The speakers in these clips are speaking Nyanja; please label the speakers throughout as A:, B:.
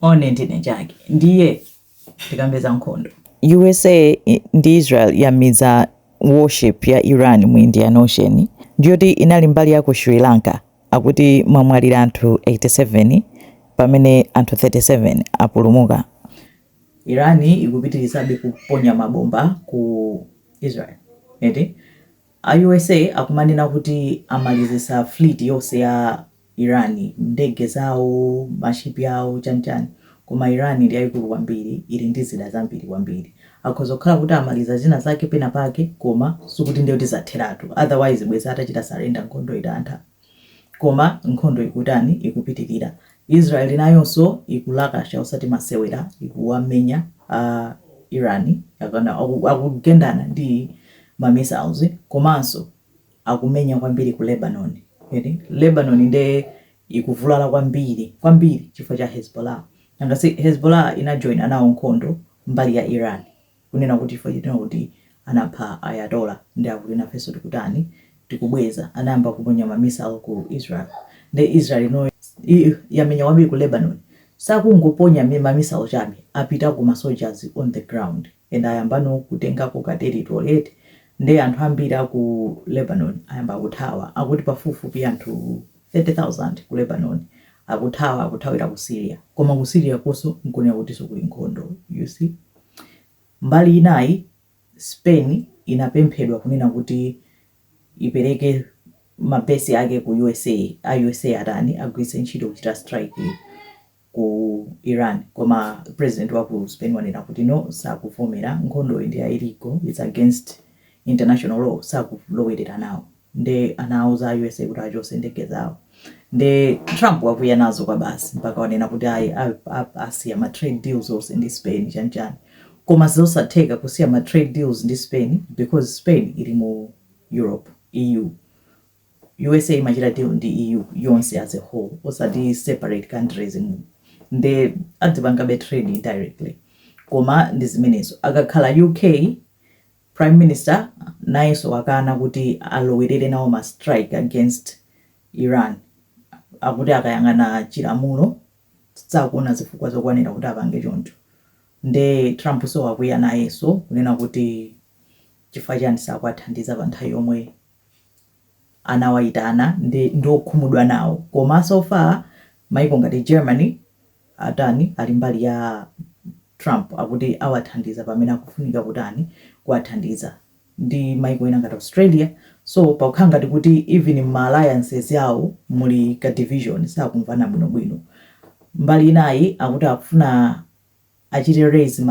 A: one ndine chake ndiye tikambe za nkhondo
B: usa ndi israel yamiza warship ya iran mu indian ocean ndiyoti inali mbali ya ku sri lanka akuti mwamwalira anthu 87 pamene anthu 37
A: apulumuka iran ikupitirizabe kuponya mabomba ku israel eti a usa akumanena kuti amalizisa fleet yonse ya Iran ndege zawo ma ship awo chani chani koma Iran ndi yaikulu kwambiri ili ndi zida zambiri kwambiri akhoza kukhala kuti amaliza zina zake pena pake koma sikuti ndiye kuti zatheratu otherwise bwezi atachita surrender nkhondo itatha koma nkhondo ikutani ikupitilira Israel nayonso ikulakasha osati masewera ikuwamenya a Iran akugendana ndi ma missiles komanso akumenya kwambiri ku Lebanon, Lebanon nde ikuvulala kwambiri chifukwa cha Hezbollah, nanga si Hezbollah inajoina nawo nkhondo mbali ya Iran, kunena kuti chifukwa choti akuti anapha Ayatollah nde akuti nafenso tikutani, tikubweza, anayamba kuponya ma missile ku Israel, nde Israel no yamenya kwambiri ku Lebanon, sakungoponya ma missile chabe, apitako ma soldiers on the ground. and ayambano kutengako ka territory eti nde anthu ambiri aku Lebanon ayamba kuthawa akuti pafupifupi anthu 30,000 ku Lebanon akuthawa akuthawira ku Syria koma ku Syria konso nkonena kutiso kuli nkhondo you see mbali inayi Spain inapemphedwa kunena kuti ipereke ma base ake ku usa a usa atani agwiritse ntchito kuchita strike ku Iran koma president wa ku Spain wanena kuti no sakuvomera, nkhondoyi ndi ya illegal, its against international law sakulowerera nawo nde anauza a usa kuti achose ndege zawo nde Trump wakwiya nazo kwabasi mpaka wanena kuti ayi asiya ma trade deals onse ndi Spain chani chani koma zosatheka kusiya ma trade deals ndi Spain because Spain ili mu Europe, EU. Usa imachita deal ndi EU yonse as a whole osati separate countries nde adzipangabe trade indirectly koma ndi zimenezo. Akakhala UK prime minister nayenso wakana kuti alowelere nawo ma strike against Iran akuti akayang'ana chilamulo sakuona zifukwa zokwanira kuti apange choncho nde Trump so wakwiya nayenso kunena kuti chifukwa chani sakuwathandiza pa nthawi yomwe anawayitana ndi okhumudwa nawo koma so far maiko ngati Germany atani ali mbali ya Trump akuti awathandiza pamene akufunika kutani kuwathandiza ndi maiko ena ngati Australia so pakukhala ngati kuti even mma alliances yawo muli ka division sakumvana bwinobwino mbali inayi akuti akufuna achite raise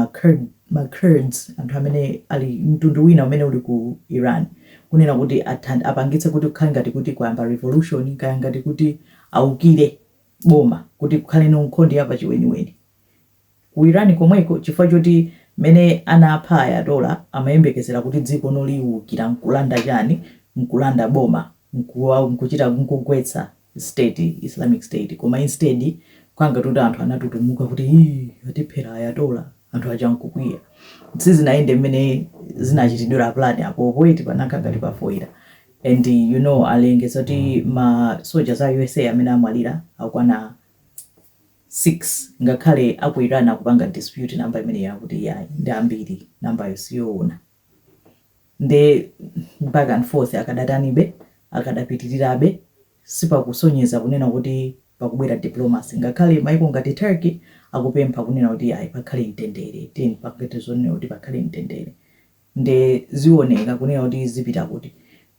A: ma Kurds anthu amene ali mtundu wina umene uli ku Iran kunena kuti apangitse kuti kukhale ngati kuti kwayamba revolution kaya ngati kuti aukire boma kuti kukhale no nkhondo ya pachiweniweni ku Iran komweko chifukwa choti mmene anapha Ayatollah amayembekezera kuti dziko lino liukira nkulanda chani nkulanda boma nkuchita nkugwetsa state, Islamic State, koma instead kukhala ngati kuti anthu anatutumuka kuti hii atiphera Ayatollah, anthu aja nkukwiya. Sizinayende mmene zinachitidwira plan apopo eti panakhala ngati pafoila and you know alengeza kuti ma soldiers a usa amene amwalira akwana 6 ngakhale aku Iran akupanga dispute namba imeneyo akuti iyayi ndi ambiri nambayo siyoona. nde back and forth akadatanibe akadapitirirabe sipakusonyeza kunena kuti pakubwera diplomacy ngakhale maiko ngati Turkey akupempha kunena kuti ayi pakhale mtendere tiyeni tipange zonena kuti pakhale mtendere nde zioneka kunena kuti zipita kuti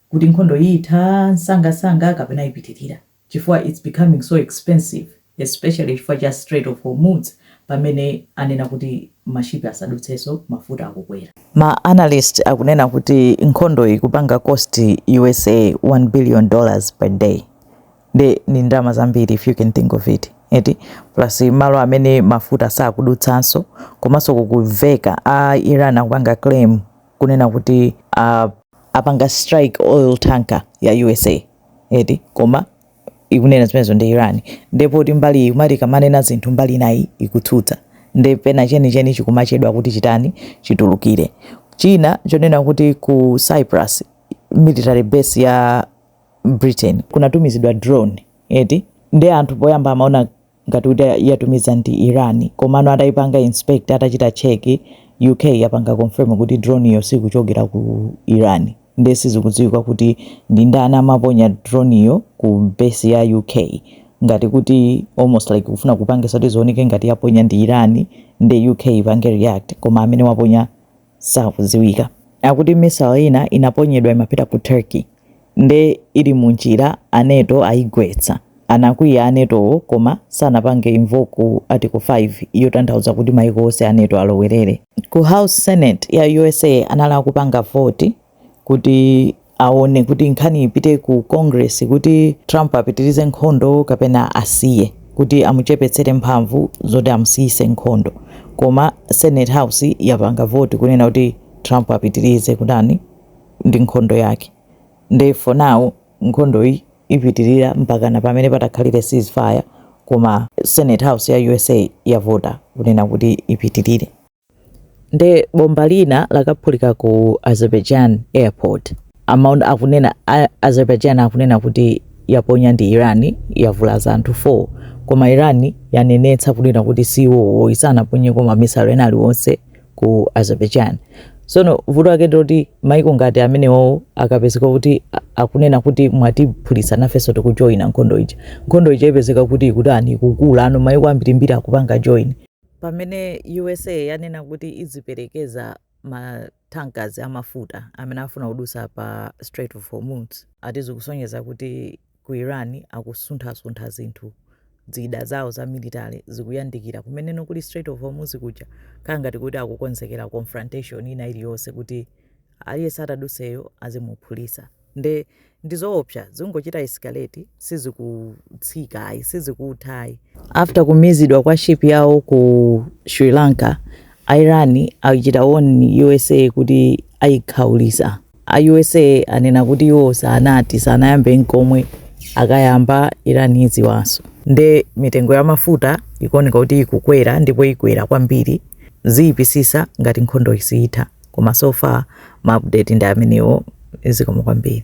A: kuti nkhondo itha msangamsanga kapena ipitirira. chifukwa its becoming so expensive especially chifukwa cha strait of hormuz pamene anena kuti mashipi asadutsenso mafuta akukwera. Ma analyst
B: akunena kuti nkhondoyi ikupanga cost usa 1 billion dollars per day nde ndi ndalama zambiri if you can think of it eti plus malo amene mafuta sakudutsanso komanso kukumveka a iran akupanga claim kunena kuti apanga strike oil tanker ya usa. eti koma ikunena zimenezo ndi Iran nde poti mbali iyi imati ikamanena zinthu mbali inayi ikutsutsa nde pena chenicheni chikumachedwa kuti chitani chitulukire china chonena kuti ku Cyprus military base ya Britain kunatumizidwa drone eti nde anthu poyamba amaona ngati kuti yatumiza ndi Iran komano ataipanga inspect atachita check UK yapanga confirm kuti drone iyo siikuchokera ku Iran nde sizikudziwika kuti ndi ndani amaponya drone iyo ku base ya UK ngati kuti almost like kufuna kupangisa kuti zioneke ngati yaponya ndi Iran nde UK ipange react koma amene waponya sakudziwika. Akuti missile ina inaponyedwa imapita ku Turkey nde ili mu njira a NATO ayigwetsa. Anakwiya a NATO wo koma sanapange invoke article 5 yotanthauza kuti maiko onse a NATO alowerere. Ku house senate ya usa anali akupanga vote kuti aone kuti nkhani ipite ku Congress kuti Trump apitirize nkhondo kapena asiye kuti amuchepetsere mphamvu zoti amusiyise nkhondo. Koma Senate House yapanga voti kunena kuti Trump apitirize kutani ndi nkhondo yake. Nde for now nkhondoyi ipitirira mpakana pamene patakhalire ceasefire koma Senate House ya USA yavota kunena kuti ipitirire. Nde bomba lina lakaphulika ku Azerbaijan airport. Akunena a Azerbaijan akunena kuti yaponya ndi Iran yavulaza anthu 4 koma Iran yanenetsa kunena kuti si iwo ayi sanaponyeko ma missile ena aliwonse ku Azerbaijan. Tsono vuto lake ndiloti maiko ngati amenewo akapezeka kuti akunena kuti mwatiphulitsa nafenso tikujoina nkhondo ija. Nkhondo ija ipezeka kuti ikutani ikukula no maiko ambirimbiri akupanga join. Pamene usa yanena kuti idziperekeza ma tankers amafuta amene afuna kudutsa pa Strait of Hormuz, ati zikusonyeza kuti ku Iran akusunthasuntha zinthu, zida zawo za military zikuyandikira kumeneno kuli Strait of Hormuz kuja, kukhala ngati kuti akukonzekera confrontation ina iliyonse kuti aliyense ataduseyo azimuphulisa nde ndizoopsa zingochita escalate sizikutsika ayi sizikutha ayi after kumizidwa kwa ship yawo ku sri lanka iran achita warn usa kuti ayikhaulisa a usa anena kuti iwo sanati sanayambe nkomwe akayamba iran idziwanso nde mitengo ya mafuta ikuoneka kuti ikukwera ndipo ikwera kwambiri ziyipisisa ngati nkhondo siyitha koma so far ma update ndi amenewo zikomo kwambiri.